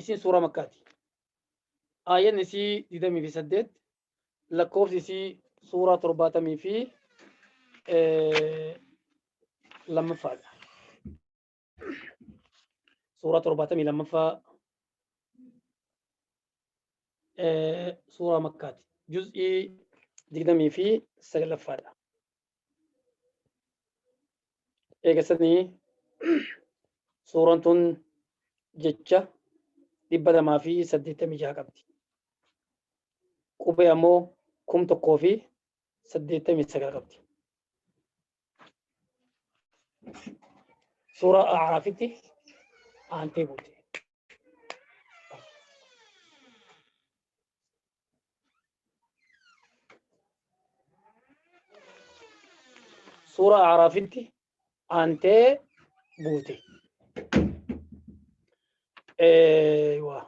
isin suuraa makkaati aayan isii digdamii fi saddeet lakkoofsi isii suuraa torbaatamii fi lammaffaadha suuraa torbaatamii lammaffaa suuraa makkaati juz'ii digdamii fi saglaffaadha eegasanii suuraan tun jecha dhibba lamaa fi saddeettamii jaha qabdi. Qubee ammoo kum tokkoo fi saddeettamii sagal qabdi. Suuraa Aaraafitti aantee buute. suuraa aaraafitti aantee buute. Eeywa.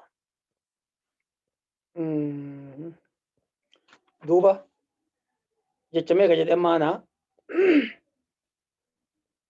Mm. Duuba jecha meeqa jedhee maanaa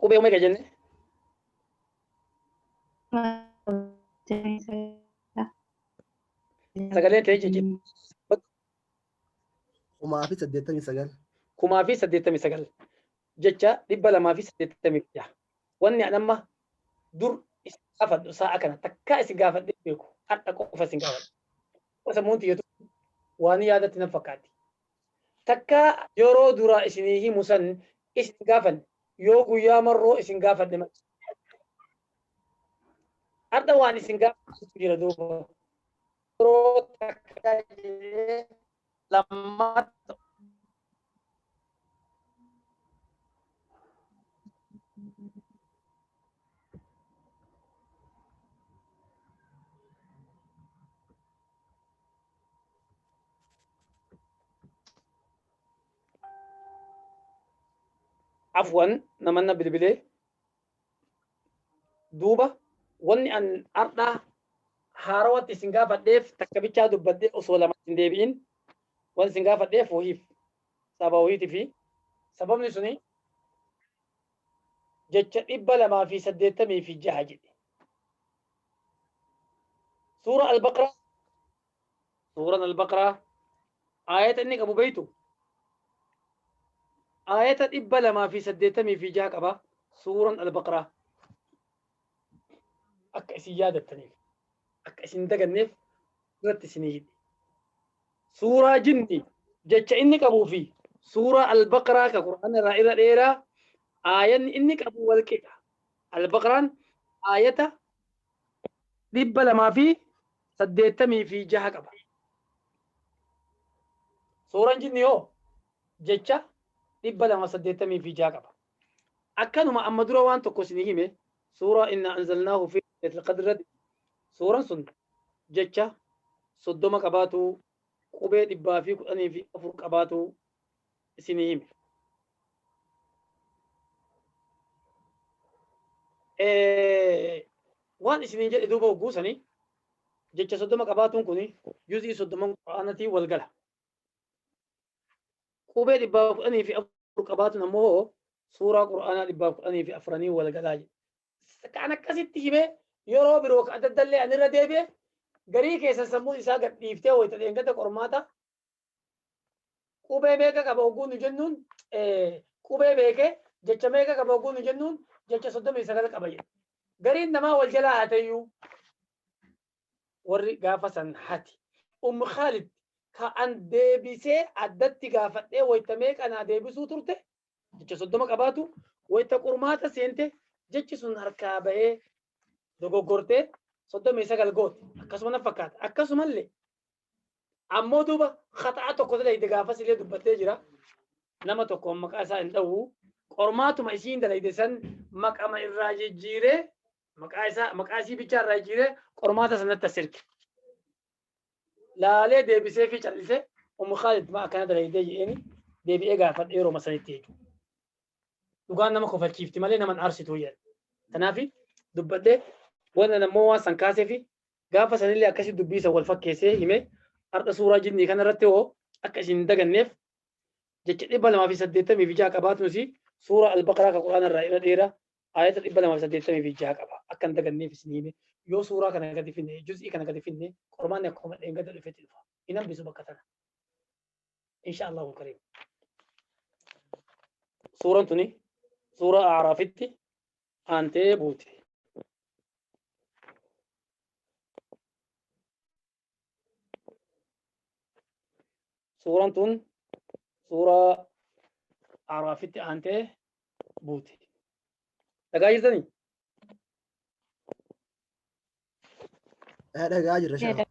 Qubee meeqa jenne? Sagalee ta'ee jijjiirra. kumaa fi saddeettamii sagal kumaa fi saddeettamii sagal jecha dhibba lamaa fi saddeettamii jaha. Wanni an amma dur isin gaafadhu sa'a kana takkaa isin gaafadhee beeku har'a qofa isin gaafadhu. Qofa sammuun tiyyatu waan yaadatti nan fakkaatti. Takkaa yeroo duraa isinii himu san isin gaafanne, yoo guyyaa marroo isin gaafadhe malee. Hardha waan isin gaafachiisu jira duuba. Yeroo takka jedhee lammata afwan namanna bilbilee duuba wanni an ardhaa haarawatti isin gaafadheef takka bichaa dubbadde osoo lama hin deebi'in wan isin gaafadheef wahiif saba wahiiti fi sababni suni jecha 286 jedhe. Suura Al-Baqraa Suuraan Al-Baqraa aayata inni qabu beektu aayata 286 qaba Suuraan Al-Baqraa. akka isin yaadattaniif akka isin daganneef irratti isinii hidhe suuraa jinni jecha inni qabuu fi suuraa albaqraa ka qur'aana irraa irra dheeraa aayanni inni qabu wal qixa albaqraan aayata dhibba lamaa fi saddeettamii fi jaha qaba suuraan jinni hoo jecha dhibba lama saddeettamii fi jaha qaba Akkanuma amma dura waan tokko isinii hime suuraa inna anzalnaahu fi leetil qadri irratti suuran sun jecha soddoma qabaatu qubee dhibbaa fi kudhanii fi afur qabaatu isinii hime. Waan isiniin jedhe duuba hogguu sanii jecha soddoma qabaatuun kun juzii soddoman quraanatii wal gala. qubee dhibbaa kudhanii fi afur qabaatun ammoo hoo suuraa qur'aanaa dhibbaa kudhanii fi afraniin wal galaa jedhe. Kan akkasitti himee yeroo biroo adda addallee ani irra deebi'e garii keessa sammuu isaa gad dhiiftee wayita dheengata qormaata qubee meeqa qaba oguu nu jennuun qubee beekee jecha meeqa qaba oguu nu jennuun jecha soddomii sagal qaba jedhe. Gariin namaa wal jalaa haatayyuu warri gaafa san hati Umm Khaalid ka an deebisee addatti gaafadhee wayta meeqa naa deebisuu turte jecha soddoma qabaatu wayta qurmaata seente jechi sun harkaa bahee dogoggortee soddomii sagal goote akkasuma na fakkaata akkasumallee ammoo duuba khaxa'a tokko dalayde gaafas illee dubbattee jira nama tokko maqaa isaa hin dha'u qormaatuma isiin dalayde san maqama irraa jijjiiree maqaa isaa maqaa isii bichaa irraa jijjiiree qormaata sanatti as erge. Laalee deebisee fi callisee Ummu Khaalid maa akkana dalaydee jedheeni deebi'ee gaafadhe yeroo sanitti jechuudha. Dhugaan nama kofalchiifti malee nama hin aarsitu jedhe. Kanaaf dubbadhee wanna nammoo waan san kaasee fi gaafa sanillee akkasii dubbii isa wal fakkeessee himee har'a suuraa jinnii kana irratti hoo akka isin hin daganneef jecha dhibba lamaa fi saddeettamii fi ja'a qabaatun isii suuraa albaqaraa ka quraana irraa irra dheeraa ayata 286 qaba akka hin daganneef isin hime yoo suuraa kana gadi finne juz'ii kana gadi finne qormaanni akkuma dheengada dhufetti dhufa hin hambisu bakka tana insha allahu kariim suuraan tuni suuraa aaraafitti aantee buute suuraan tun suuraa araafitti aantee buute dhagaa jirtanii dhagaa jirra shaka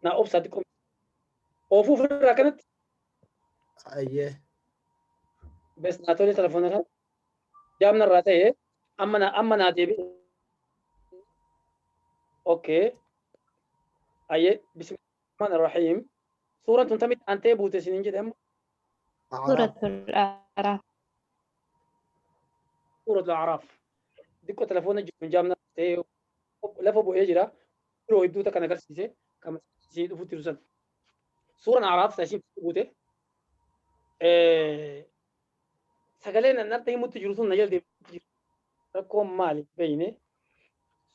naa obsaa xiqqoo oofuu ofirraa kanatti ayyee bes naa tolee telefoona irraa jaam narraa ta'e amma na amma naa deebi okay ayye bismillahir rahim suuraan tun tamitti antee buute isinin jedhe amma Suuraa Tol'aaraa. suuratu araaf diqqoo telefoona jiru jaam narraa ta'e lafa bu'ee jira biroo hedduu takka na agarsiise kan isin dhufutti jiru san suuraan araaf isa isin buute sagaleen an harta himutti jiru sun na jala deebi'utti jira. Rakkoon maali beeyne.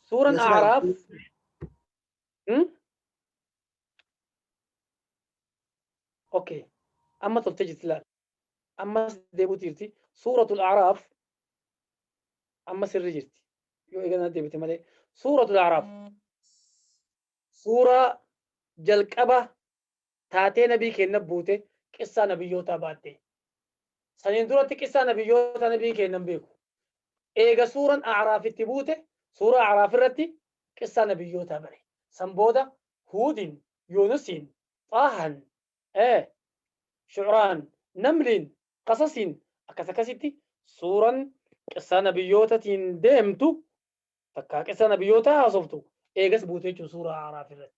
Suuran Nasraa, Aaraaf. Hmm? Okay. Amma toltee jirti laal. Ammas deebi'utti jirti. Suuratul Aaraaf amma sirri jirti. Yoo eeganaa deebite malee. Suuratul Aaraaf. Suuraa jalqaba taatee nabii keenna buute qissaa nabiyyootaa baatte. Saniin duratti qissaa nabiyyootaa nabii keenna hin beeku. Eega suuran A'raaf itti buute suuraa A'raaf irratti qissaa nabiyyootaa bare. San booda Huudin, Yuunusiin, Xaahan, ee, Shu'raan, Namliin, Qasasiin akkas akkasitti suuran qissaa nabiyyootatiin deemtu takkaa qissaa nabiyyootaa haasoftu eegas buute jechuun suuraa A'raaf irratti.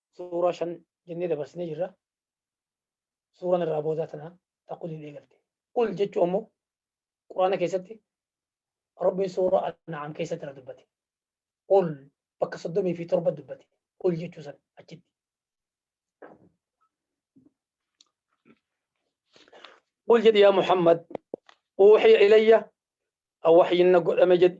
suuraa shan jennee dabarsinee jirra. Suuraan irraa boodaa tana ta quliin eegalte. Qul jechuun ammoo Quraana keessatti Rabbiin suuraa An'aam keessatti irra dubbate. Qul bakka soddomii fi torba dubbate. Qul jechuu san achitti. Qul jedhi yaa Muhammad uuxiya ilayya awwaxyinna godhame jedhi.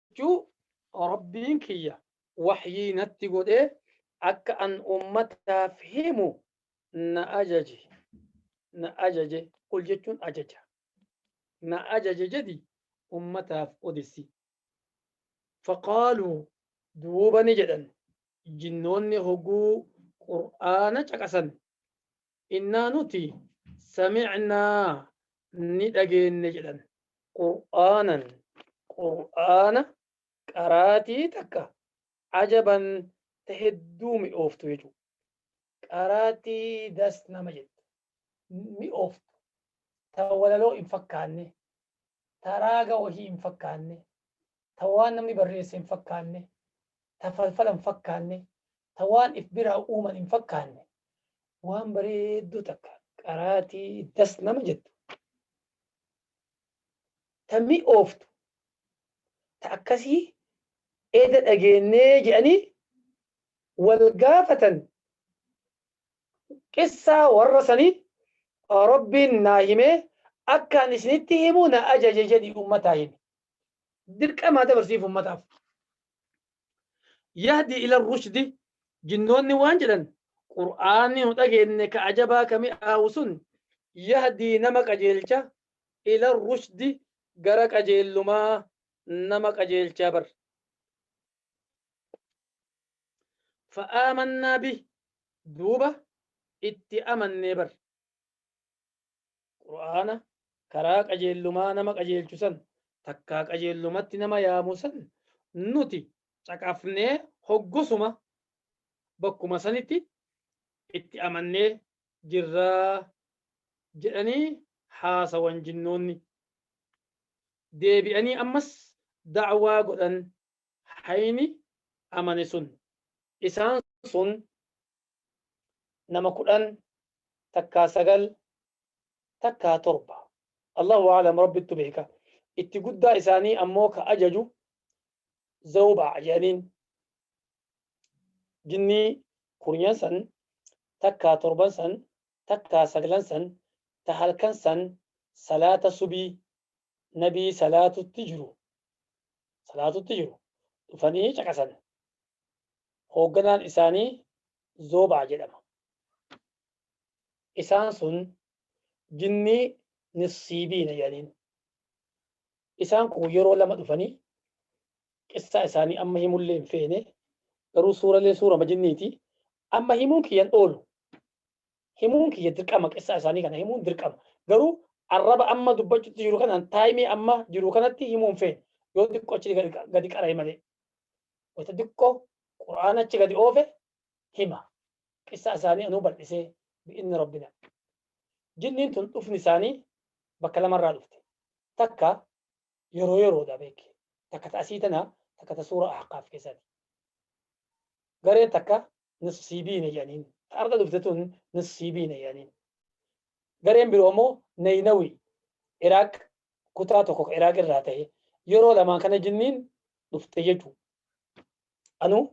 jechuu Rabbiin kiyya wahyii natti godhee akka an ummataaf himu na ajaje na ajaje qul jechuun ajaja na ajaje jedhi ummataaf odessi faqaaluu duuba ni jedhan jinnoonni hoguu qur'aana caqasan innaa nuti samicnaa ni dhageenne jedhan. qur'aanan qur'aana qaraatii takka cajaban ta hedduu mi'ooftu jechuudha. qaraatii das nama jettu, mi'ooftu, ta walaloo hin fakkaanne, ta raaga wahii hin fakkaanne, ta waan namni barreesse hin fakkaanne, ta falfala hin fakkaanne, ta waan if biraa uuman hin fakkaanne, waan bareedduu takka qaraatii das nama jettu, ta mi'ooftu, ta akkasii eda dhageennee jedhanii wal gaafatan, qissaa warra sanii Rabbiin naa himee akka an isinitti himu na ajaje jedhii ummataa himi. dirqamaa dabarsiif ummataaf. Yahdi ila rushdi jinnoonni waan jedhan qur'aanni nu dhageenne ka ajabaa ka mi'aawu sun yahdii nama qajeelcha ila rushdi gara qajeellumaa nama qajeelchaa bar. Fa'aamannaa bi duuba itti amannee bar. Qur'aana, karaa qajeellumaa nama qajeelchu san, takkaa qajeellumatti nama yaamu san, nuti caqafnee hoggusuma bakkuma sanitti itti amannee jirra jedhanii haasawan jinnoonni. Deebi'anii ammas da'waa godhan hayni amane sun. Isaan sun nama kudhan takkaa sagal takkaa torba allahu aalam rabbittu beeka itti guddaa isaanii ammoo ka ajaju zawbaa jedhaniin jinnii kurnyan san takkaa torban san takkaa saglan san ta halkan san salaata subii nabii salaatutti jiru salaatutti jiru dhufanii caqasan hoogganaan isaanii Zoobaa jedhama. Isaan sun jinnii nissiibiina jedhaniin. Isaan kun yeroo lama dhufanii qissaa isaanii amma himullee hin feene garuu suuralee suurama jinniiti amma himuun kiyyan oolu himuun kiyya dirqama qissaa isaanii kana himuun dirqama garuu arraba amma dubbachutti jiru kanaan taayimii amma jiru kanatti himuun feene yoo xiqqoo achi gadi qara'e malee wata diqqoo qur'aan achi gadi oofe hima qissaa isaanii anuu bal'isee bi'inni rabbina jinniin tun dhufni isaanii bakka lamarraa dhufte takka yeroo yeroodha beeki takka ta asii tana takka ta suura ahqaaf keessaati gareen takka nusiibiine jedhaniin. Ta arda dhufte tun nusiibiine jedhaniin. Gareen biroo immoo Nayinawii Iraaq kutaa tokko ka Iraaq irraa ta'e yeroo lamaan kana jinniin dhufte jechuu. Anuu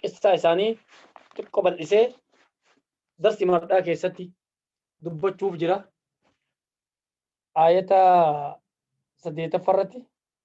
qissaa isaanii xiqqo bal'isee darsi mardhaa keessatti dubbachuuf jira. Aayata saddeettaffa irratti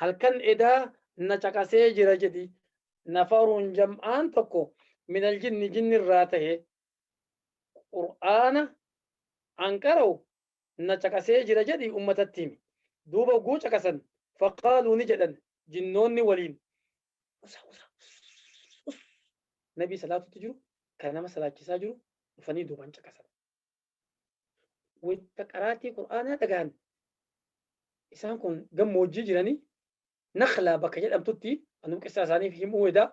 halkan edaa na caqasee jira jedhi nafarun jam'aan tokko minal jinni jinni irraa tahe qur'aana an qara'u na caqasee jira jedhi ummatatti himi duuba ogguu caqasan faqaaluu ni jedhan jinnoonni waliin usa usa us nabii salaatutti jiru kan nama salaachisaa jiru dhufanii duuban caqasan wayta qaraatii qur'aanaa dhagaan isaan kun gammoojjii jiranii naklaa bakka jedhamtutti anuu qissaa isaaniif himuu edaa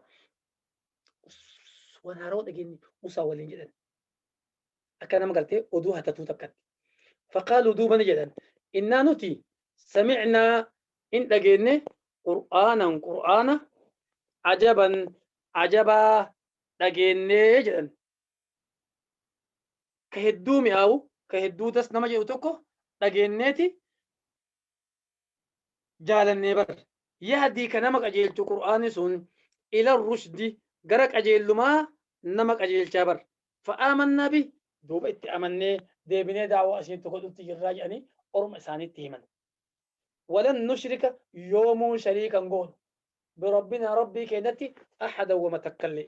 waan haaroo dhageenye musaa waliin jedhan akka nama galtee oduu hatatuu takkatti faqaaluu duuba ni jedhan innaa nuti samicnaa in dhageenne qur'aanan qur'aana ajaban ajabaa dhageennee jedhan ka hedduu mi'aawu ka hedduu das nama jedhu tokko dhageenneeti jaalannee bar yahdii ka nama qajeelchu qur'aanni sun ila rushdi gara qajeellumaa nama qajeelchaa bar fa'aamannaa bi duuba itti amannee deebinee daawaa isiitti godhutti jirraa jedhanii orma isaaniitti himan walan nushrika yoomuu shariikan goonu birabbinaa rabbii keenyatti ahada wama takkallee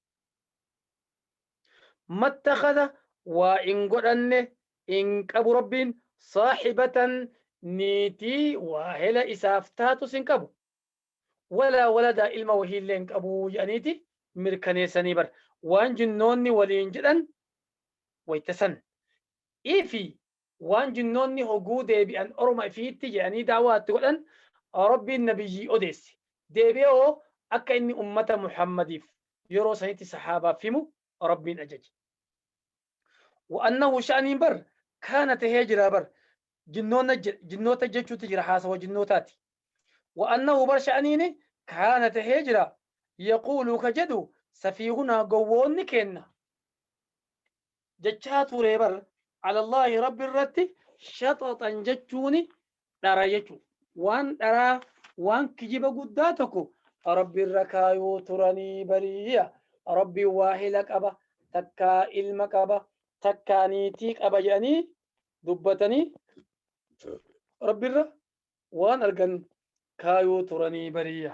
mattakhadha waa hin godhanne hin qabu Rabbiin saahibatan niitii waahela isaaf taatus hin qabu walaa waladaa ilma wahiillee hin qabu jedhaniiti mirkaneessanii bar waan jinnoonni waliin jedhan wayta san ifii waan jinnoonni hoguu deebi'an orma ifiitti je'anii daawaa itti godhan Rabbiin nabiyyii odeesse. Deebi'ee hoo akka inni ummata Muhammadiif yeroo sanitti sahaabaaf himu Rabbiin ajaje. Wa annahu sha'aniin bar kaana tahee jira bar jinnoonna je- jinnoota jechuutti jira haasawa jinnootaati. Wa annahu bar sha'aniini kaana tahee jira yaquulu ka jedhu safiihunaa gowwoonni keenna. jechaa ture bar alallahi rabbi irratti shaxaxan jechuuni dhara jechu waan dharaa waan kijiba guddaa tokko rabbi irra kaayuu turanii bariya rabbi waahila qaba takkaa ilma qaba takkaa niitii qaba jedhanii dubbatanii rabbi irra waan argan kaayuu turanii bariya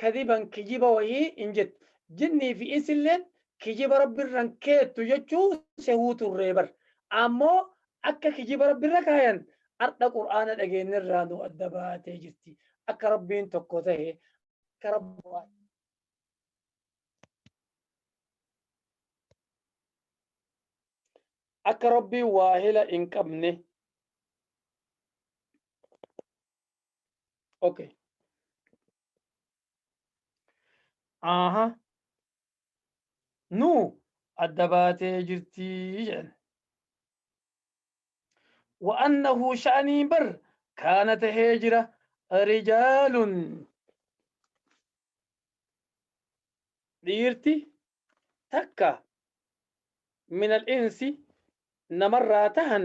kadiban kijiba wahii hin jettu. Jinnii fi insilleen kijiba Rabbi irra hin keettu jechuu sehuu turree bar. Ammoo akka kijiba Rabbi irra kaayan ardha Qur'aana dhageenne irraa nu adda baatee jirti. Akka Rabbiin tokko tahe, akka Rabbi akka Rabbiin waahila hin qabne. Okay. Aha. Nu adda baatee jirtii jedhan. Wa'annahu sha'anii bar kaana tahee jira rijaalun dhiirti takka minal insi namarraa tahan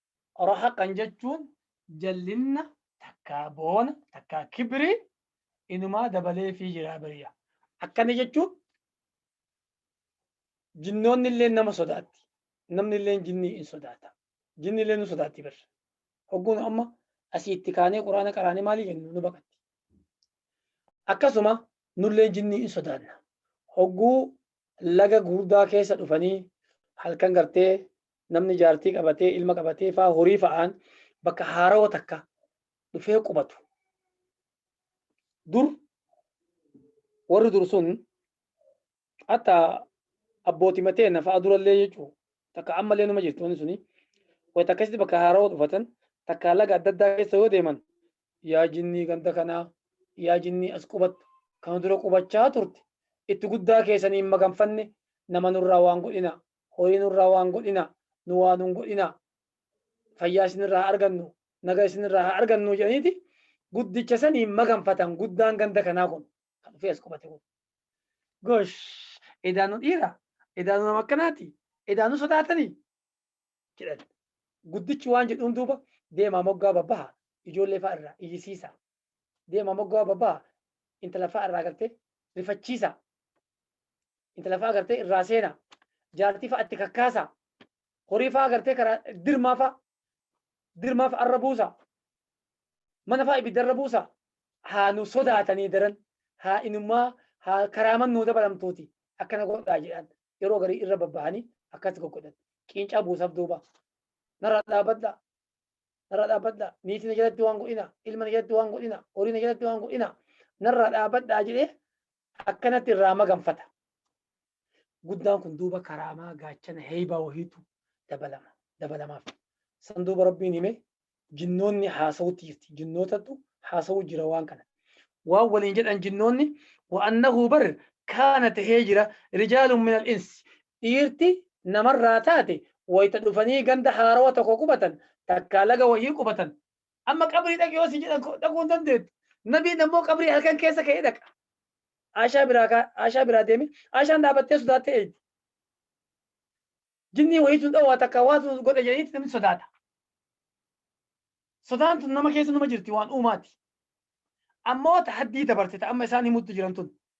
Rahaqan jechuun jallinna takkaa boona takkaa kibri inumaa dabaleefii jiraa bariya. Akkana jechuun jinnoonni illee nama sodaatti. Namni illee jinnii in sodaata. Jinni illee nu sodaatti bar. Hogguun amma asii itti kaanee quraana qaraanee maalii jennu nu baqatti. Akkasuma nullee jinnii in sodaanna. Hogguu laga gurdaa keessa dhufanii halkan gartee namni jaartii qabatee ilma qabatee faa horii fa'aan bakka haarawa takka dhufee qubatu. Dur warri dur sun hatta abbooti matee na fa'a durallee jechuun takka ammallee numa jirti wanti suni wayita akkasitti bakka haarawa dhufatan takka laga adda addaa keessa yoo deeman yaa jinnii ganda kanaa yaa jinnii as qubattu kan dura qubachaa turte itti guddaa keessanii hin maganfanne nama nurraa waan godhina horii nurraa waan godhina nu waa nun godhina fayyaa isinirraa haa argannu naga isinirraa haa argannu jedhaniiti guddicha saniin maganfatan guddaan ganda kanaa kun kan dhufee as qubate kun gosh edaa nu dhiira edaa nu nama akkanaati edaa nu sodaatanii jedhan guddichi waan jedhuun duuba deemaa moggaa babbaha ijoollee fa'a irraa iyyisiisa deema moggaa babaa intala fa'a irraa gartee rifachiisa intala fa'a gartee irraa seena jaartii fa'a itti kakkaasa horii fa'a gartee karaa dirmaa fa'a dirmaa fa'a irra buusa mana fa'a ibidda irra buusa haa nu sodaatanii daran haa inumaa haa karaaman nuu dabalamtuuti akkana godhaa jedhan yeroo garii irra babbahanii akkas goggodhan qiincaa buusaaf duuba narraa dhaabadha narraa dhaabbadhaa niitii na jalatti waan godhinaa ilma na jalatti waan godhinaa horii na jalatti waan godhinaa narraa dhaabbadhaa jedhee akkanatti irraa maganfata. Guddaan kun duuba karaamaa gaachana heeybaa wahiitu dabalama dabalamaaf. San duuba rabbiin hime jinnoonni haasawutti jirti jinnootatu haasawu jira waan kana. Waan waliin jedhan jinnoonni wa'annahu bar kaana tahee jira rijaalun minal insi dhiirti namarraa taate wayta dhufanii ganda haarawa tokko qubatan takkaa laga wayii qubatan amma qabrii dhaqi yoo si jedhan dhaquu hin dandeettu nabiin ammoo qabrii halkan keessa ka'ee dhaqa aashaa biraa kaa aashaa biraa deeme aashaan dhaabattee sodaattee eegdi jinnii wayiitu hin dhowaa takkaa waatu godha jedhaniitti namni sodaata sodaan tun nama keessa nama jirti waan uumaati ammoo tahaddii dabarsita amma isaan himuttu jiran tun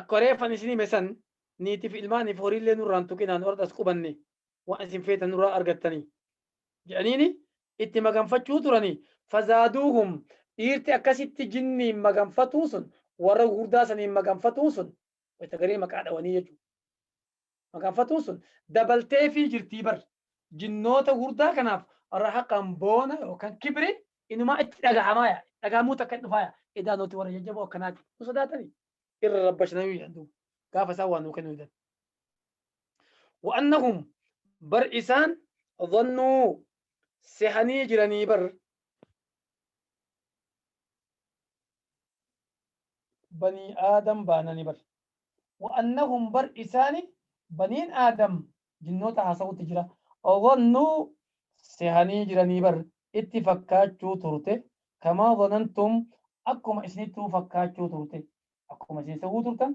Akkuma reeffan isin hime san niitii fi ilmaanii fi horii illee nurraa hin tuqinaa nu ardhas qubannee waan isin feetan nurraa argattanii jedhaniini itti maganfachuu turanii fazaaduuhum dhiirti akkasitti jinniin maganfatuu sun warra gurguddaa saniin maganfatuun sun wayta garii maqaa dhawanii jechuudha. Makaanfatuun sun dabalteefii jirtii bar. Jinnoota hurdaa kanaaf rahaqaan boona yookaan kibri inumaa itti dhagahamaa yaa dhagahamuu takka hin dhufaa yaa edaa nuti warra jajjaboo akkanaati nu sodaatanii irra rabbashanayuu jedhan duuba gaafa isaan waa nuu kennuu didan. Wa'annahum bar isaan dhannuu sehanii jiranii bar. banii aadam baanani bar wa annahum bar isaani baniin aadam jinnoota haasawutti jira dhannuu sehanii jiranii bar itti fakkaachuu turte kamaa dhanantum akkuma isinittuu fakkaachuu turte akkuma isin sehuu turtan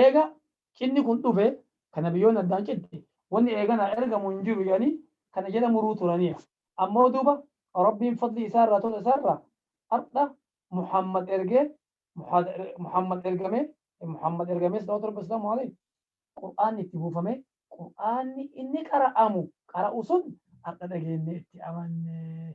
Eega cinni kun dhufe ka nabiyyoonni addaan citti, wanni eeganaa ergamu hin jiru jedhanii kana jedha muruu turaniya. Ammoo duuba Rabbiin fadlii isaa irraa tola isaa irraa hardha Muhammad ergee, Muhammad ergamee, Muhammad ergamee salawaatu Rabbii wasalaamuhu aleyh, Qur'aanni itti buufamee, Qur'aanni inni qara'amu qara'u sun hardha dhageennee itti amanne.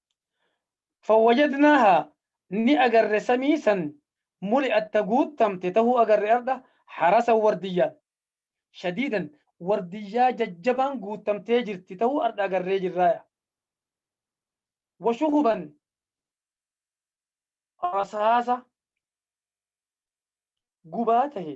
Fawwajadnaaha ni agarre samii san muli'at ta guuttamte tahuu agarre ardha harasan wardiyyaan shadiidan wardiyyaa jajjabaan guuttamtee jirti tahuu ardha agarree jirraaya wa shuhuban rasaasa gubaa tahe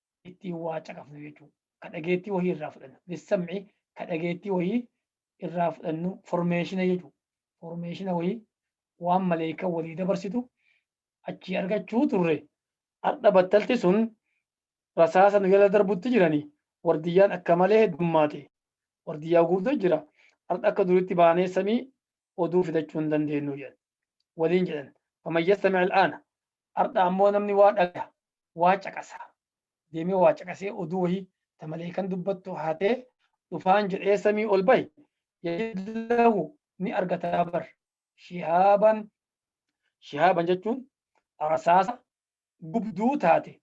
ittiin waa caqafnu jechuudha. Ka dhageettii wahii irraa fudhannu. Bissamci ka dhageettii wahii irraa fudhannu formeeshina jechuudha. Formeeshina wahii waan maleekan walii dabarsitu achii argachuu turre. Har'a battalti sun rasaasa nu jala darbutti jirani. Wardiyyaan akka malee heddummaate. Wardiyyaa guutuu jira. Har'a akka duritti baanee samii oduu fidachuu hin dandeenyu jedhan. waliin jedhan faman yastami al'aana ardha ammoo namni waa dhaga waa caqasa deemee waa caqasee oduu wahii ta maleekan dubbattu haatee dhufaan jedhee samii ol bahi yajidlahu ni argata bar shihaaban shihaaban jechuun rasaasa gubduu taate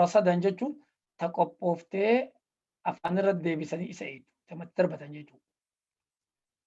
rasadan jechuun ta qophooftee afaan irra deebisanii isa eegdu tamatti darbatan jechuudha.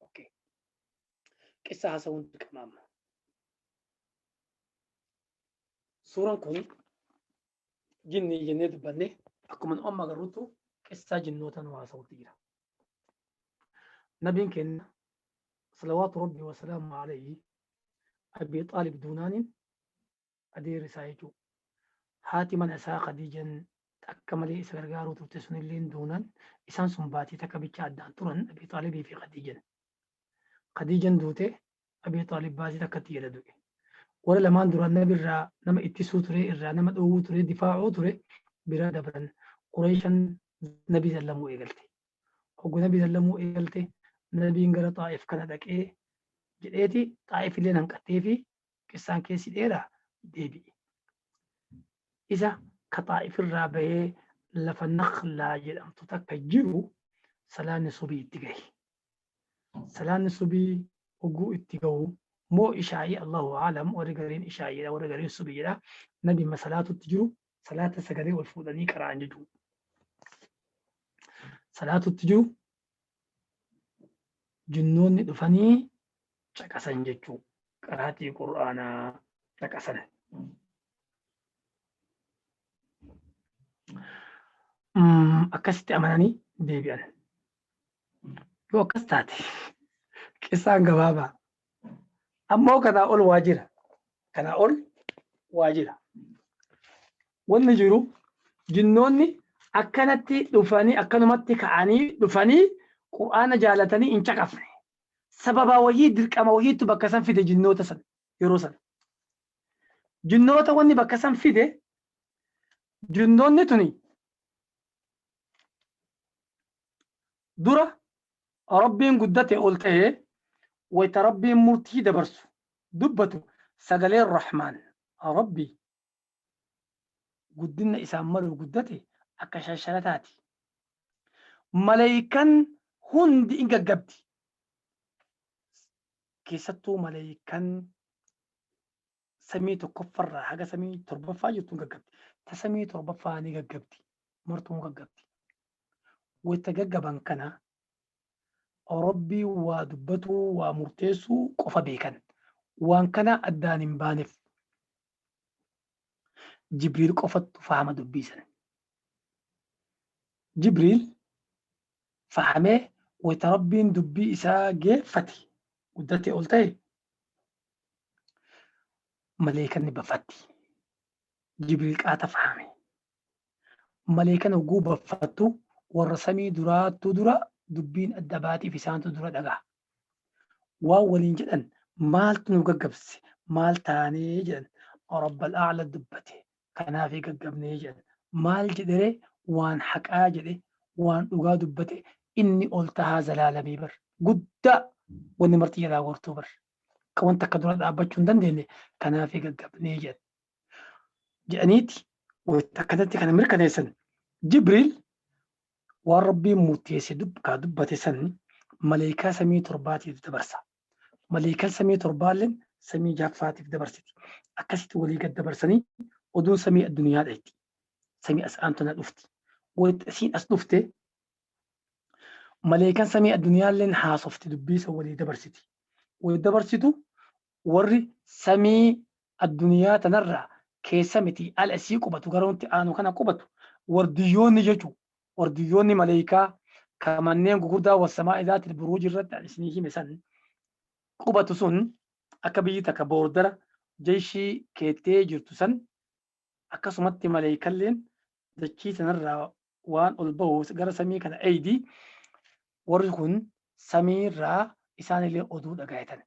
Okay. Qissa haasawuun dirqama amma. Suuraan kun jinnii jennee dubbanne akkuma nu amma agarrutu qissaa jinnoota nu haasawutti jira. Nabiin keenya salawaatu rabbi wasalaamu alayhi Abi Xaalib Duunaaniin adeerri isaa jechuu. Haati mana isaa Khadiijan takka malee isa gargaaruu turte sunilleen duunaan isaan sun baatii takka bicha addaan turan Abii Xaalibii fi Khadiijan. Khadiijan duute Abii Xaalib baatii takkatti jala du'e. Warra lamaan duraan nabi irraa nama ittisuu ture irraa nama dhoowwuu ture difaacuu ture bira dabran Qureeshan nabi zallamuu eegalte. Hoggu nabi zallamuu eegalte nabiin gara Xaa'if kana dhaqee jedheeti Xaa'if illeen hanqattee fi Qissaan keessi dheeraa? Deebi'i. Isa ka Xaa'if irraa bahee lafa Nakhlaa jedhamtu takka jiru salaanni subii itti gahi. Salaanni subii hogguu itti gahu moo ishaa'ii Allahu a'lam warri gariin ishaa'ii jedha warri gariin subii jedha nabi ma salaatutti jiru salaata sagalee ol fuudhanii qara'an jechuudha. Salaatutti jiru jinnoonni dhufanii caqasan jechuu qaraatii qur'aanaa caqasan. Akkasitti amananii deebi'an. Yoo akkas taate qissaan gabaabaa Ammoo kanaa ol waa jira. Kanaa ol waa jira. Wanni jiru jinnoonni akkanatti dhufanii akkanumatti ka'anii dhufanii Qur'aana jaalatanii hin caqafne. Sababa wayii dirqama wayiitu bakka san fide jinnoota san yeroo san. Jinnoota wanni bakka san fide jinnoonni tuni dura Rabbiin guddate ol ta'e wayta Rabbiin murtii dabarsu, dubbatu, sagaleen Rahmaan, Rabbi, guddinna isaan malu guddate akka shalshalataati. Maleeykan hundi in gaggabdi. Keessattuu maleeykan samii tokkoffarraa haga samii torbaffaa jirtuun gaggabdi. Ta samii torbaffaa ni gaggabdi. Martuu gaggabdi. Wayita gaggaban kana Rabbii waa dubbatuu waa murteessuu qofa beekan. Waan kana addaan hin baaneef. Jibriil qofattu fahama dubbiisan. Jibriil fahamee wayita Rabbiin dubbii isaa geeffate guddatee ol ta'e maleekan ni baffatti. Jibril qaata fahame. Maleekan hogguu baffattu warra samii duraattuu dura dubbiin adda baatiif isaantu dura dhagaa. Waan waliin jedhan maaltu nu gaggabse maal taanee jedhan rabbal a'la dubbate kanaafii gaggabnee jedhan maal jedhere waan haqaa jedhe waan dhugaa dubbate inni ol tahaa zalaalamii bar guddaa wanni marti jalaa gortuu bar akka wanta akka dura dhaabbachuu hin dandeenye kanaaf gaggabnee jedhan. Jedhaniiti wayita akkanatti kana mirkaneessan Jibriil waan Rabbiin murteesse dubkaa dubbate san maleekaa samii torbaatiif dabarsa. Maleekan samii torbaalleen samii jaffaatiif dabarsiti. Akkasitti walii gad dabarsanii oduun samii addunyaa dhayxi. Samii as aantana dhufti. Wayita isiin as dhufte Maleekan samii adduniyaalleen haasofti dubbiisa walii dabarsiti. Walii dabarsitu warri samii adduniyaa tanarraa keessa miti ala isii qubatu gara nutti aanu kana qubatu wardiyyoonni jechu wardiyyoonni maleekaa ka manneen gugurdaa wassamaa'i zaatil buruuji irratti an isinii hime san qubatu sun akka biyyi takka boordara jeyshii keettee jirtu san akkasumatti maleekalleen dachii tanarraa waan ol ba'u gara samii kana eeydi warri kun samiirraa isaanillee oduu dhagaayatan.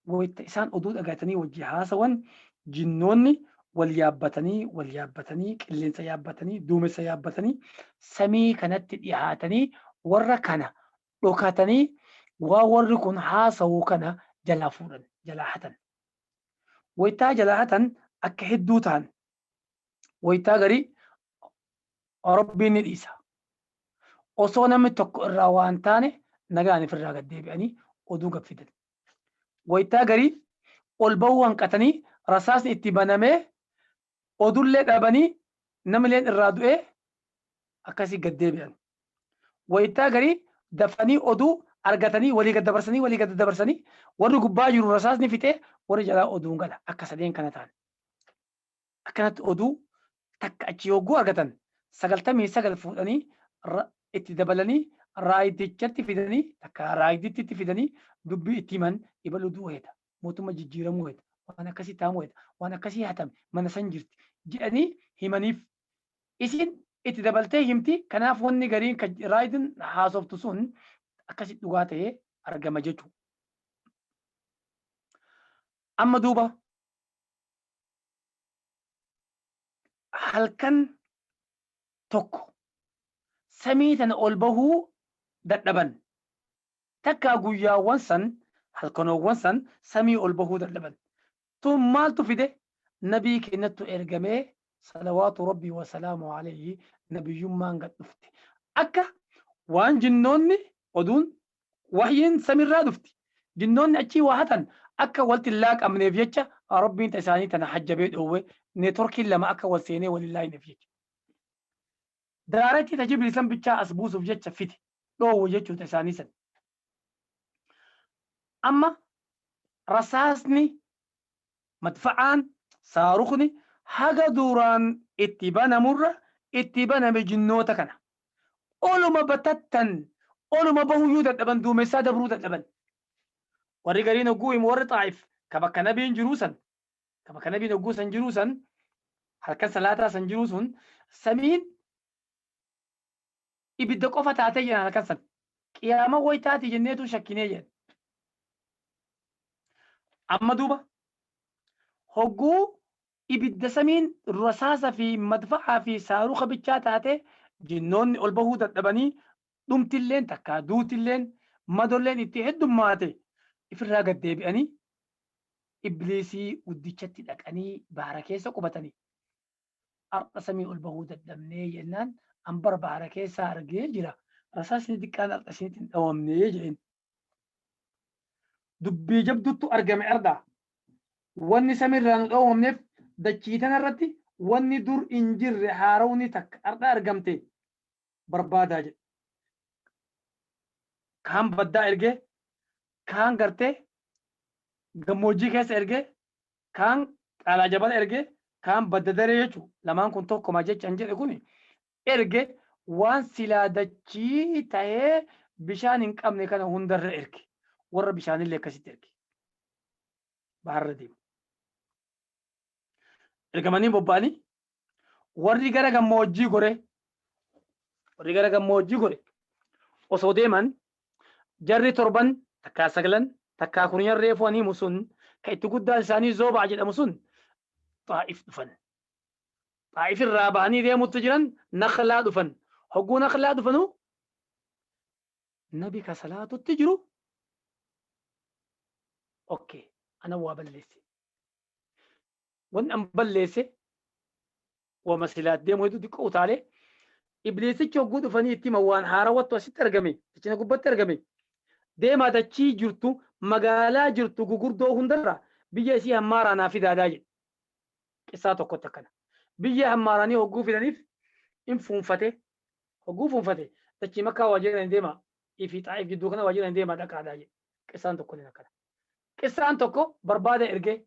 Wayita isaan oduu dhagaayatanii wajji haasawan jinnoonni wal yaabbatanii wal yaabbatanii qilleensa yaabbatanii duumessa yaabbatanii samii kanatti dhihaatanii warra kana dhokatanii waa warri kun haasawu kana jalaa fuudhan jalaa hatan. Wayitaa jalaa hatan akka hedduu ta'an waytaa garii Rabbiin ni dhiisa. Osoo namni tokko irraa waan taane nagaan ifirraa gad deebi'anii oduu gad fidan. Waytaa garii ol bahuu hanqatanii rasaasni itti banamee odullee dhabanii namileen irraa du'ee akkasii gad deebi'an. Waytaa garii dafanii oduu argatanii walii gad dabarsanii walii gad dabarsanii warri gubbaa jiru rasaasni fixee warri jalaa oduun gala akka sadeen kana ta'an. Akkanatti oduu takka achii hogguu argatan 99 fuudhanii itti dabalanii raaydichatti fidanii takka raayditti fidanii dubbii itti himan ibaluu du'uu heeta mootumma jijjiiramuu heeta waan akkasii taamuu heeta waan akkasii hatame mana san jirti jedhanii himaniif isin itti dabaltee himti kanaaf wanni gariin kan raayidin haasoftu sun akkasi dhugaa ta'ee argama jechuu amma duuba halkan tokko samii tana ol bahuu dadhaban takkaa guyyaawwan san halkanoowwan san samii ol bahuu dadhaban tun maaltu fide nabii keenyattu ergamee salawaatu rabbii wasalaamu alayhi nabiyyummaan gad dhufte akka waan jinnoonni oduun Wahyiin samiirraa dhufti. Jinnoonni achii waa hatan akka waltti hin laaqamneef jecha Rabbiin ta isaanii tana hajjabee dhoowwe, networkiin lama akka wal seenee wal hin laayneef jecha. Direct ta Jibriil san bichaa as buusuuf jecha fide, dhoowwe jechuu ta isaanii san. Amma rasaasni, madfa'aan, saarukni haga duraan itti banamurra itti baname jinnoota kana. Oluma batattan, oluma bahuyyuu dadhaban, duumessaa dabruu dadhaban. Warri gariin hogguu himu warri Xaa'if ka bakka nabiin jiruu san, ka bakka nabiin hogguu san jiruu san, halkan salaataa san jiruu sun, samiin ibidda qofa taatee jedhan halkan san. Qiyaama waytaati jenneetu shakkinee jedhan. Amma duuba hogguu ibidda samiin rasaasa fi madfa'aa fi saaruka bichaa taatee jinnoonni ol bahuu dadhabanii dhumtilleen takkaa duutilleen madolleen itti heddummaate ifirraa gad deebi'anii ibliisii guddichatti dhaqanii bahara keessa qubatanii har'a samii ol bahuu dadhabnee jennaan an bara bahara keessaa argee jira rasaasni xiqqaan har'a isinitti hin dhawamne jedheen. dubbii jabduttu argame ardaa wanni samirraa nu dhoowwamneef dachii tanarratti wanni dur hin jirre haarawni takka arda argamte barbaadaa jedhe kaan baddaa ergee kaan gartee gammoojjii keessa ergee kaan qaalaa jabala ergee kaan badda daree jechuun lamaan kun tokkoma jecha hin jedhe kun erge, waan silaa dachii tahee bishaan hin qabne kana hunda irra erge, warra bishaanillee akkasitti erge. Baharra deemu. Ergamanii bobba'anii warri gara gammoojjii gore, warri gara gammoojjii gore osoo deeman jarri torban takkaa saglan takkaa kurnyan reefuu haniimu sun ka itti guddaan isaanii Zoobaa jedhamu sun Xaa'if dhufan. Xaa'if irraa bahanii deemutti jiran Nakhlaa dhufan. Hogguu Nakhlaa dhufanu Nabi ka salaatutti jiru okke ana waa balleesse. Wanni an balleesse wama silaat deemu hedduu xiqqoo utaalee ibliisichi hogguu dhufanii itti hima waan haarawattu asitti argame dachina gubbatti argame deemaa dachii jirtu magaalaa jirtu gugurdoo hundarra biyya isii hammaaraa naa fidaadaa jedhe. qissaa tokkotti akkana biyya hammaaranii hogguu fidaniif in fuunfate hogguu fuunfate dachii makkaa waajjira hin deemaa ifi xaa'if gidduu kana waajjira hin deemaa dhaqaadhaa jedhe qissaan tokko ni akkana qissaan tokko barbaada ergee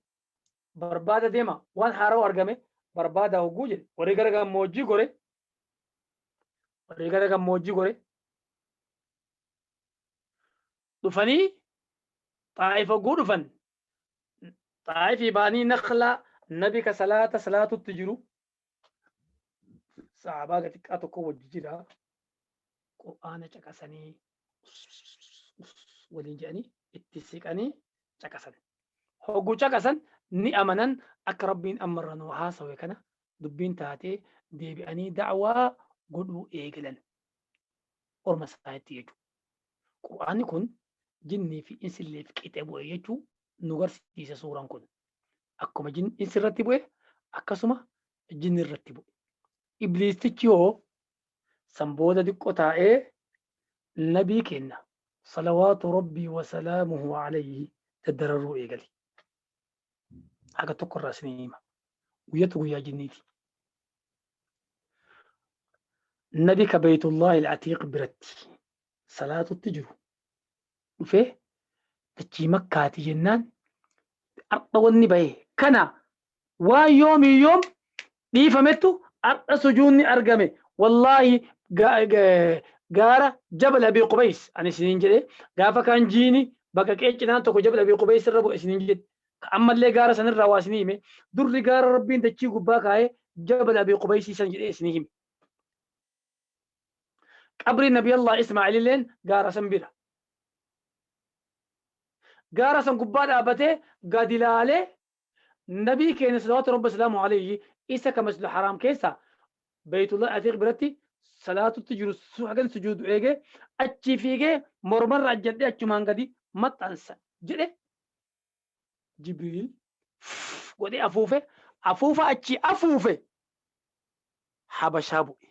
barbaada deema waan haarawa argame barbaada hogguu jedhe warri gara gammoojjii gore warri gara gammoojjii gore dhufanii xaa'if hogguu dhufan xaa'ifii ba'anii naqlaa nabi ka salaata salaatutti jiru sahaabaa xiqqaa tokko wajji jira qur'aana caqasanii waliin jedhanii itti siqanii caqasan hogguu caqasan ni amanan akka rabbiin ammarra nuu haasawe kana dubbiin taatee deebi'anii da'waa godhuu eegalan orma isaanitti jechuudha Qur'aanni kun jinnii fi insilleef qixe bu'e jechuu nu garsiisa suuran kun. Akkuma jin- insi irratti bu'e akkasuma jinni irratti bu'e. Ibliistichi hoo san booda diqqo taa'ee nabii keenna salawaatu rabbii wa salaamuhu alayhi daddararuu eegale. Haga tokko irraa isinii hima. Guyyatu guyyaa jinniiti. nabi ka beeytullahi alatiiq biratti salaatutti jiru dhufee dachii makkaati jennaan har'a wanni bahe kana waan yoomii yoom dhiifamettu har'a sujuunni argame wallaahi gaara jabal abii qubeys ani isiniin jedhe gaafa kaan jiini bakka qeecinaan tokko jabal abii qubeys irra bu'e isiniin jedhe Ka ammallee gaara san irraa waa isinii hime, durri gaara Rabbiin dachii gubbaa kaaye Jabal Abii Qubaysii san jedhee isinii hime. Qabriin Nabiyallah Ismaa'iililleen gaara san bira. Gaara san gubbaa dhaabatee gadi laalee Nabii keenya salawaatu Rabbi wasalaamuhu alayhi isa ka Masjidul Haraam keessaa Baytullahil Atiiq biratti salaatutti jiru hagan sujuudu eegee achii fiigee mormarra ajjadhee achumaan gadi maxxansa jedhe Jibriil godhee afuufe, afuufa achii afuufe Habashaa bu'e.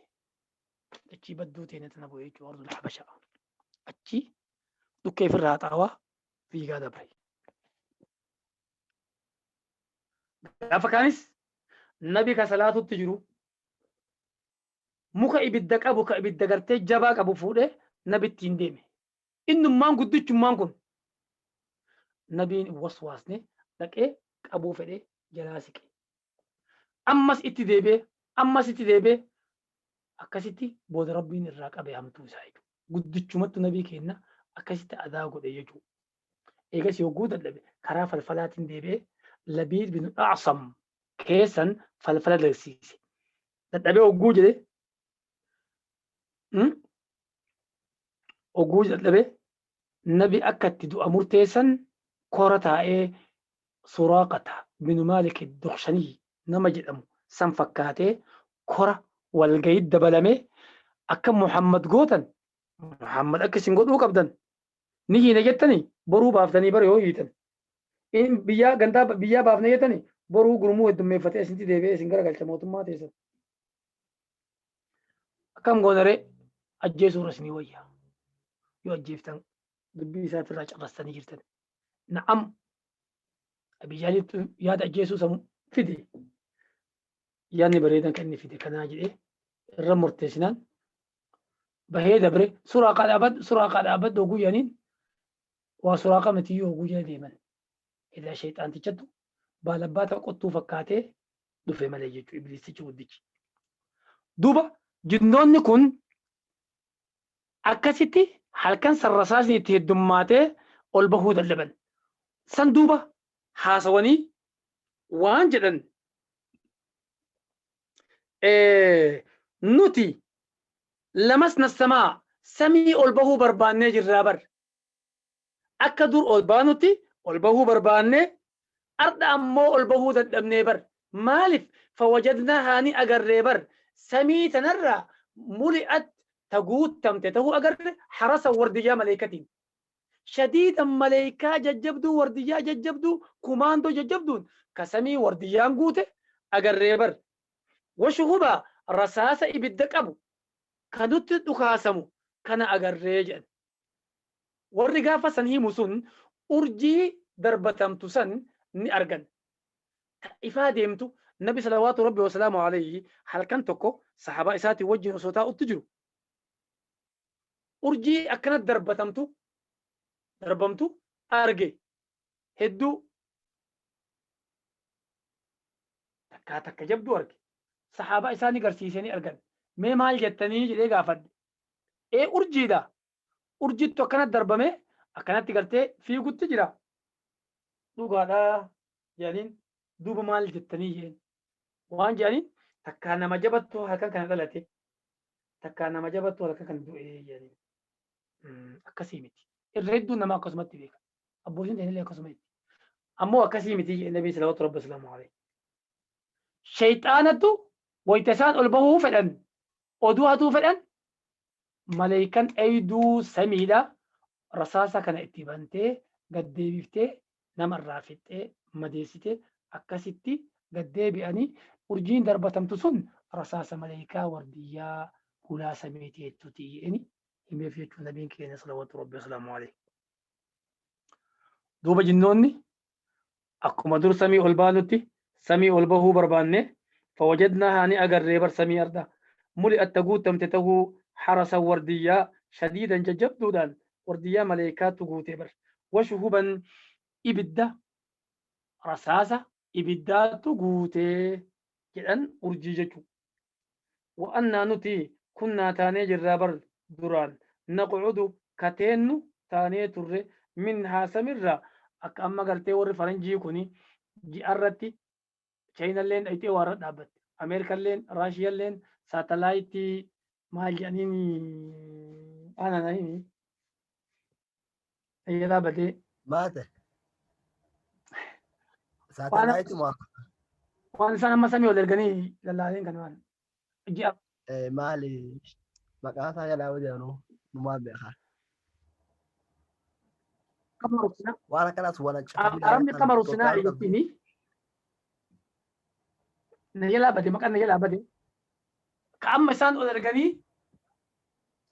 Achii badduu teenya tana bu'e jechuudha Ordul Habashaa. Achii dhukkee ofirraa xaawaa fiigaa dabre. Gaafa kaanis nabi ka salaatutti jiru muka ibidda qabu ka ibidda gartee jabaa qabu fuudhee nabi ittiin deeme. Innummaan guddichummaan kun Nabiin hin waswaasne dhaqee qabuu fedhee jalaa siqe. Ammas itti deebi'ee ammas itti deebi'ee akkasitti booda Rabbiin irraa qabe hamtuu isaa jechuudha. Guddichumattu Nabii keenna akkasitti adaa godhe jechuudha. Eegas yogguu dadhabe karaa falfalaatiin deebi'ee Labiid bin A'sam keessan falfala dalsiise. Dadhabee hogguu jedhe oguu dadhabe nabi akka itti du'a murteessan kora taa'ee suraaqata binu maalik duqshanii nama jedhamu san fakkaatee kora walgayii dabalame akka muhammad gootan muhammad akka isin godhuu qabdan ni hiina jettani boruu baaftanii bara yoo hiitan in biyyaa gandaa biyyaa baafna jettani boruu gurmuu heddummeeffatee isinti deebi'ee isin garagalcha mootummaa teessan akkam goonaree ajjeesuu irra isinii wayya yoo ajjeeftan dubbii isaatirraa cabastanii jirtan na'am abijaaliitu yaada ajjeesuu san fide yaadni bareedan kan inni fide kanaa jedhee irra murteessinaan bahee dabre suuraa kaa dhaabadhu suuraa kaa dhaabadhu oguu jedhaniin waa suuraa kaa mitiyyuu oguu jedha deeman ilaa sheexaantichattu baalabbaata qottuu fakkaatee dhufe malee jechuudha ibliisichi guddichi. Duuba jinnoonni kun akkasitti halkan san rasaasni itti heddummaatee ol bahuu dadhaban. San duuba haasawanii waan jedhan nuti lamas nassamaa samii ol bahuu barbaannee jirraa bar. Akka dur ol baanutti ol bahuu barbaannee ardha ammoo ol bahuu dadhabnee bar maalif fawajadnaahaa ni agarree bar samii tanarraa muli'at ta guuttamte tahuu agarre harasan wardiyyaa maleeykatiin shadiidan maleeykaa jajjabduu wardiyyaa jajjabduu kumaandoo jajjabduun ka samii wardiyyaan guute agarree bar washuhubaa rasaasa ibidda qabu ka nutti dhukaasamu kana agarree jedhan. Warri gaafa san himu sun urjii darbatamtu san ni argan. Ta ifaa deemtu, Nabi salawaatu Rabbi wasalaamu alayhi halkan tokko sahaabaa isaatii wajjin osoo taa'utti jiru, urjii akkana darbatamtu, darbamtu, arge. Hedduu. takkaa takka jabduu arge. Sahaabaa isaa ni garsiisee ni argan. Mee maal jettanii? jedhee gaafadhe. ee urjiidha urjittu akkana darbamee akkanatti gartee fiigutti jira dhugaadha jedhaniin duuba maal jettanii jeen waan jedhaniin takkaa nama jabattu halkan kana dhalate takkaa nama jabattu halkan kana du'ee jedhaniin Mm, akkasii miti irra hedduun nama akkasumatti beeka abbootiin ta'inillee akkasuma itti ammoo akkasii miti jedhe nabii salawaatu rabbi islaamu alayhi shayxaanatu wayta isaan ol bahuu fedhan Oduu hatuu fedhan maleeykan eyduu samiidha rasaasa kana itti bantee gad deebiftee nama irraa fixxee madeessite akkasitti gad deebi'anii urjiin darbatamtu sun rasaasa maleeykaa wardiyyaa hulaa samii teettuti jedheni himeef jechuun nabiin keenya salawatu rabbi wasalaamu alayhi duuba jinnoonni Akkuma dur samii ol baanutti samii ol bahuu barbaanne fawajadnaahaa ni agarree bar samii ardha muli'atta guuttamte tahuu harasan wardiyyaa shadiidan jajjabduudhaan wardiyyaa maleeykaatu guute bar washuhuban ibidda rasaasa ibiddaatu guute jedhan urjii jechuu. Wa annaa nuti kunnaa taanee jirraa bar duraan naq'udu ka teennu taanee turre minhaa samirraa akka amma gartee warri faranjii kuni ji'arratti Chayinalleen dhayxee waarra dhaabbatte. Ameerikalleen Raashiyalleen saatalaayitii maal jedhaniini ana na himi fayyadaa badee Maate. Saatalaayiti moo waan isaan amma samii ol erganii lallaaleen kan waan ji'a eh, maali maqaa isaa jalaa hojjanu numaa beeka. kama ruksinaa Waan akkanaas waan achi- arabni kama ruksinaa jechuun na jalaa bade maqaan na jalaa bade ka amma isaan ol erganii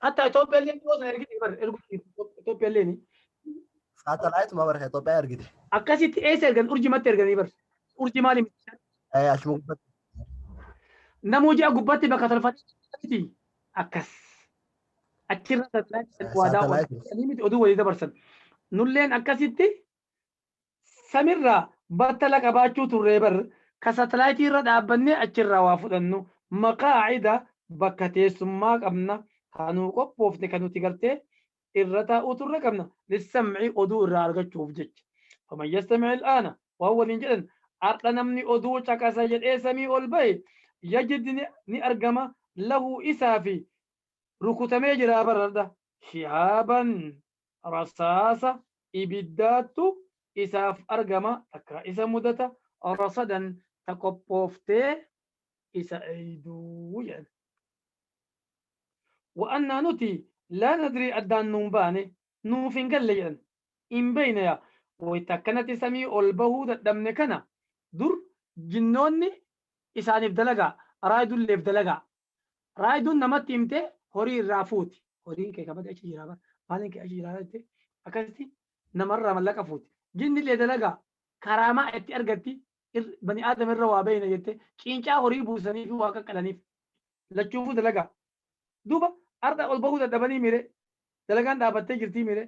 hatta Itoophiyaa illee dhiyoo sana ergite bar ergu Itoophiyaa illee ni Saatalaayit maa barka Itoophiyaa ergite. akkasitti eessa ergan urjimatti erganii bar urji maali miti Eh, Achuma gubbatti. namuu ji'a gubbatti bakka tolfatee akkas achirra saatalaayit waadaa Saatalaayit. oolanii miti oduu walii dabarsan nulleen akkasitti samirraa battala qabaachuu turree bar ka satellite irra dhaabbannee achirraa waa fudhannu maqaa'ida bakka teessummaa qabna haa nuu qophoofne kan nuti gartee irra taa'uu turre qabna lissamci oduu irraa argachuuf jecha faman yastamici il'aana waan waliin jedhan ardha namni oduu caqasa jedhee samii ol bahe yajid ni argama lahu isaa fi rukutamee jiraa barardha shihaaban rasaasa ibiddaattu isaaf argama, takkaa isa mudata, rasadan ta qophooftee isa eeydu jedhan. Wa annaa nuti laa nadrii addaan nuun baane, nuuf hin galle jedhan. Hin beeyne yaa wayta akkanatti samii ol bahuu dadhabne kana dur jinnoonni isaaniif dalagaa, raaydulleef dalagaa, Raayiduun namatti himtee horii irraa fuuti. Horiin kee kabade achi jiraa bara. Maaliin kee achi jiraa jettee akkasitti namarraa mallaqa fuuti. Jinni illee dalagaa karaamaa itti argatti bani aadama irra waa beeyna jettee ciincaa horii buusanii fi waa qaqqalaniif. Lachuufuu dalagaa. Duuba har'a ol bahuu dadhabanii mire dalagaan dhaabattee jirtii mire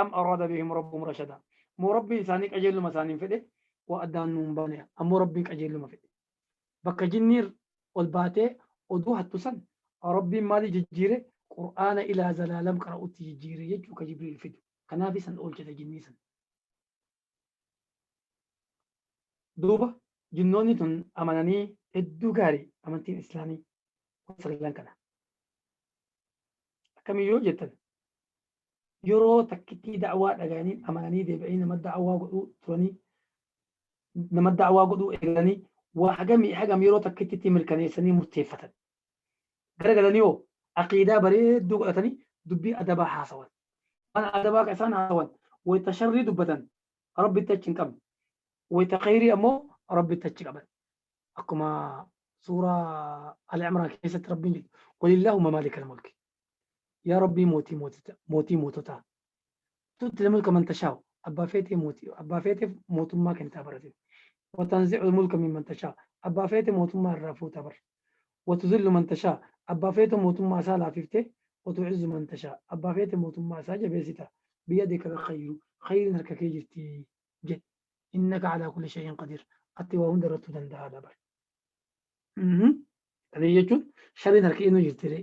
am araada bihim rabbuhum rashada moo rabbiin isaanii qajeelluma isaaniin fedhe waa addaan nu hin baane ammoo rabbiin qajeelluma fedhe bakka jinniir ol baatee oduu hattu san rabbiin maalii jijjiire qur'aana ilaa zalaalam qara'utti jijjiire jechuu ka jibriil fidu kanaaf isan oolchite jinnii san duuba jinnoonni tun amananii hedduu gaarii amantiin islaamii kun sagallan kana akkamii yoo jettan yeroo takkittii da'awaa dhaga'anii amananii deebi'anii nama da'awaa godhuu turanii nama da'awaa godhuu eegalanii waa hagamii hagam yeroo takkittitti mirkaneessanii murteeffatan garagalanii hoo aqiidaa bareedduu godhatanii dubbii adabaa haasawan waan adabaa ka isaan haasawan wayta sharrii dubbatan rabbitti achi hin qabne wayta khayrii ammoo rabbitti achi qaban akkuma suuraa al-imraan keessatti rabbiin jedhu walillaahu mamaalikal mulki yaa rabbii mootii mooticha mootii moototaa tutti lamulka man tashaa'u abbaa feetee mootii abbaa feeteef mootummaa kennitaa baratin watanzi'u mulka min man tashaa abbaa feete mootummaa irraa fuuta bar watuzillu man tashaa abbaa feetu mootummaa isaa laafiftee watu'izzu man tashaa abbaa feete mootummaa isaa jabeessita biyadika alkhayru khayrin harka kee jirti jedhe innaka alaa kulli shay'in qadiir atti waa hunda irrattuu danda'aadha bar qadiir jechuun shariin harka eenyu jirtiree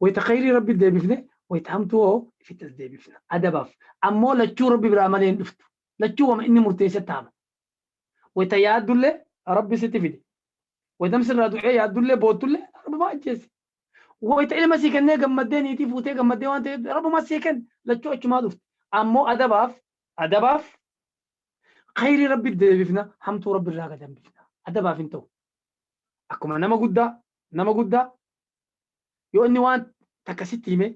wayta khayrii rabbi deebifne wayta hamtuu hoo ifitti as deebifna adabaaf ammoo lachuu rabbi biraa malee hin dhuftu lachuu wama inni murteesse taama wayta yaaddulle rabbi sitti fide waytam sirraa du'ee yaaddulle boottulle rabbumaa ajjeesse wayta ilma sii kennee gammaddee niitii fuutee gammaddee waan ta'eef rabbumaa sii kenne lachuu achumaa dhufte ammoo adabaaf adabaaf khayrii rabbi deebifna hamtuu rabbi irraa gad hambifna adabaaf hin ta'u akkuma nama guddaa nama guddaa yoo inni waan takka sitti hime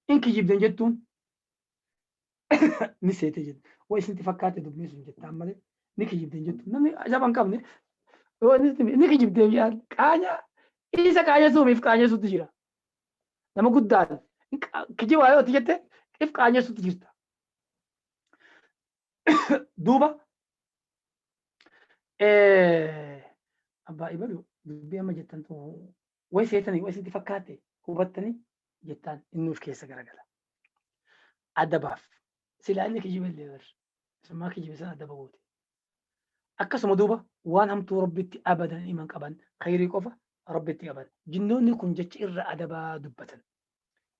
in kijibdan jettuun ni seete jette waa isinti fakkaate dubbii sun jettaan malee ni kijibdan jettuun namni ajaba hin qabne yoo inni sitti hime ni kijibdee biyaan qaanya isa qaanyessuumiif qaanyessuutti jira nama guddaan kijibaa yoo itti jette if qaanyessuutti jirta duuba abbaa ibalu dubbii amma jettan tun way seetanii way sitti fakkaate hubattanii jettaan innuuf keessa garagala adabaaf silaa inni kijiba illee bar summaa kijiba san adaba goote akkasuma duuba waan hamtuu rabbitti abadan iman qaban khayrii qofa rabbitti qaban jinnoonni kun jecha irra adabaa dubbatan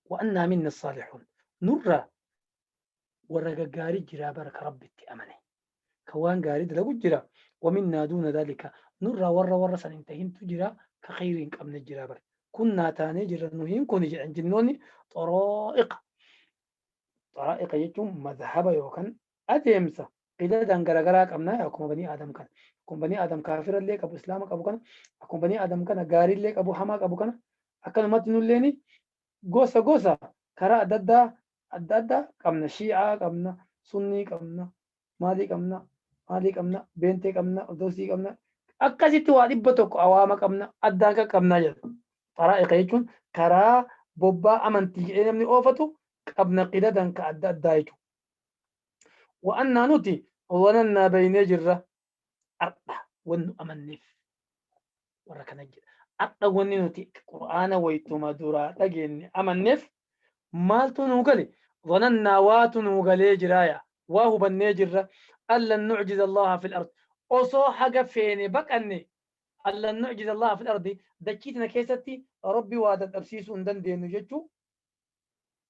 wa'annaa minna saalixuun nurra warra gaggaarii jiraa bara ka rabbitti amane ka waan gaarii dalagu jira waminnaa duuna daalika nurraa warra warra san hin tahintu jira ka kheyrii hin qabne jira bara kunnaa taanee jirra nu hin kuni jedhan jinnoonni xoroo'iqa xoroo'iqa jechuun mazhaba yookan adeemsa qidadan garagaraa qabnaa akkuma banii aadam kana akkuma banii aadam kaafira illee qabu islaama qabu kana akkuma banii aadam kana gaarii illee qabu hamaa qabu kana akkanumatti nulleeni gosa gosa karaa adda addaa adda addaa qabna shii'aa qabna sunnii qabna maalii qabna maalii qabna beentee qabna ortodoksii qabna akkasitti waa dhibba tokko awaama qabna addaan kan qabnaa jedha xaraa'iqa jechuun karaa bobbaa amantii jedhee namni oofatu qabna qidadan ka adda addaa jechuudha wa'annaa nuti wanannaa beeynee jirra Har'a wanni nu amanneef warra kana jedha. Har'a wanni nuti Qur'aana wayituma duraa dhageenye amanneef maaltu nuu gale? Zanannaa waatu nuu galee jiraaya. Waa hubannee jirra. Allan nu'jiza Allaha fil ard. Osoo haga feene baqanne allan nu'jiza Allaha fil ardi dachii tana keessatti Rabbi waa dadhabsiisuu hin dandeenyu jechuu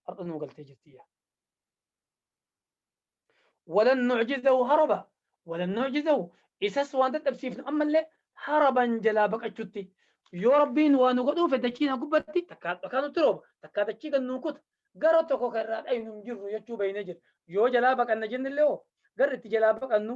har'a nuu galtee jirti yaa walan nucjizahu haraba walan nucjizahu isas waan dadhabsiifnu ammallee haraban jalaa baqachutti yoo rabbiin waa nu godhuufe dachiin hagubbatti takkaa dhakaa nutti rooba takkaa dachii gad nuu kuta gara tokko kan irraa dhaynu hin jirru jechuu beeynee jira yoo jalaa baqanna jennillee hoo garri itti jalaa baqannu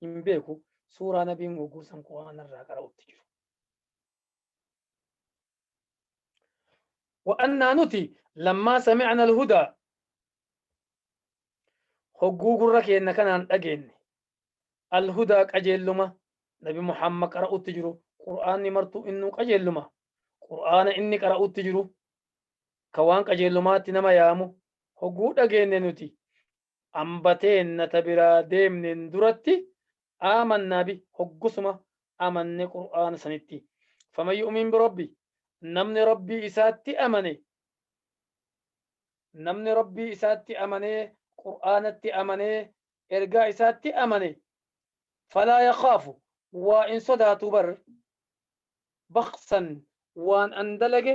hin beeku suuraa nabiin gogguu san qur'aana irraa qara'utti jiru. Wa'annaa nuti lammaa sami'ana alhudaa hogguu gurra keenna kanaan dhageenne alhudaa qajeelluma nabi Muhammad qara'utti jiru qur'aanni martuu innuu qajeelluma qur'aana inni qara'utti jiru ka waan qajeellumaatti nama yaamu hogguu dhageenne nuti Hamba teenna ta biraa deemneen duratti aamannaa bi hoggusuma amanne qur'aana sanitti. Faman yu'umin bi rabbi namni rabbii isaatti amane namni rabbii isaatti amanee qur'aanatti amanee ergaa isaatti amane falaa yakhaafu waa hin sodaatu bar bakhsan waan an dalage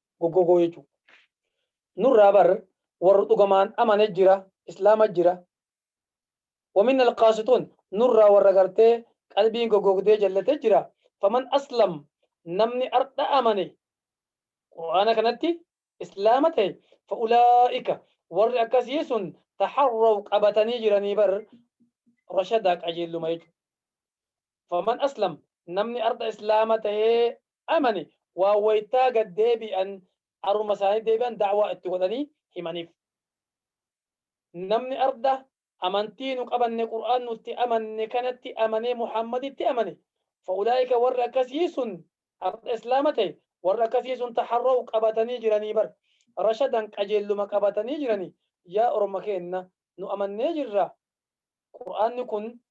goggogoo jechuu nurraa bar warra dhugamaan amane jira islaama jira waminna alqaasituun nurraa warra gartee qalbiin goggogdee jallate jira faman aslam namni ardha amane qur'aana kanatti islaama ta'e fa'ulaa'ika warri akkasii sun taharraw qabatanii jiranii bar rashadaa qajeelluma jechuudha. faman aslam namni ardha islaama tahee amane waa waytaa gad deebi'an aruma isaanii deebi'an da'waa itti godhanii himaniif namni ardha amantii nu qabanne qur'aan nutti amanne kanatti amanee muhammaditti amane fa'ulaa'ika warri akkasii sun ardha islaama tahe warri akkasii sun taharraw qabatanii jiranii bar rashadan qajeelluma qabatanii jiranii yaa orma keenna nu amannee jirra qur'aanni kun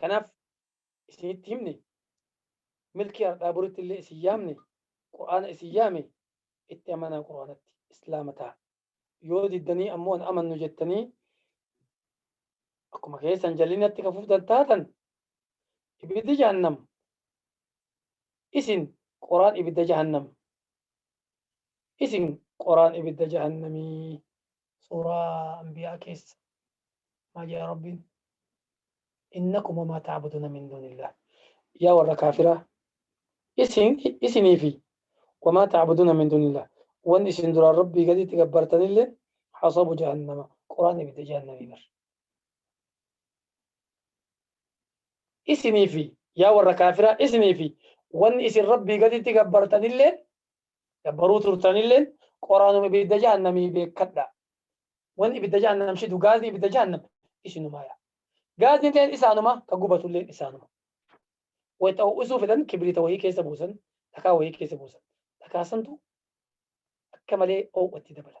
Kanaaf isinitti himne milkii hardhaa boritti illee isin yaamne qur'aana isin yaame itti amanaa qur'aanatti islaama ta'a. Yoo diddanii ammoo hin amannu jettanii akkuma keessan jallinatti ka fuftan taatan ibiddi jahannam isin qoraan ibidda jahannam isin qoraan ibidda jahannamii suuraa anbiyaa keessa maa jedha rabbiin innakum wamaa ta'buduna min duunillah yaa warra kaafiraa isin isinii fi wamaa ta'buduna min duunillah wan isin duraan rabbii gaditti gabbartanillee hasabu jahannama quraan ibidda jahannamii bar isinii fi yaa warra kaafiraa isinii fi wan isin rabbii gaditti gabbartanillee Gabbaruu turtanilleen qoraanuma ibidda jahannamii beekkadha. Wanni ibidda jahannam shidu gaazii ibidda jahannam isinumaa yaa. Gaazilleen isaanuma ka gubatulleen isaanuma. Wayita ho'isuu fedhan kibriita wayii keessa buusan dhakaa wayii keessa buusan. Dhakaa santu akka malee ho'utti dabala.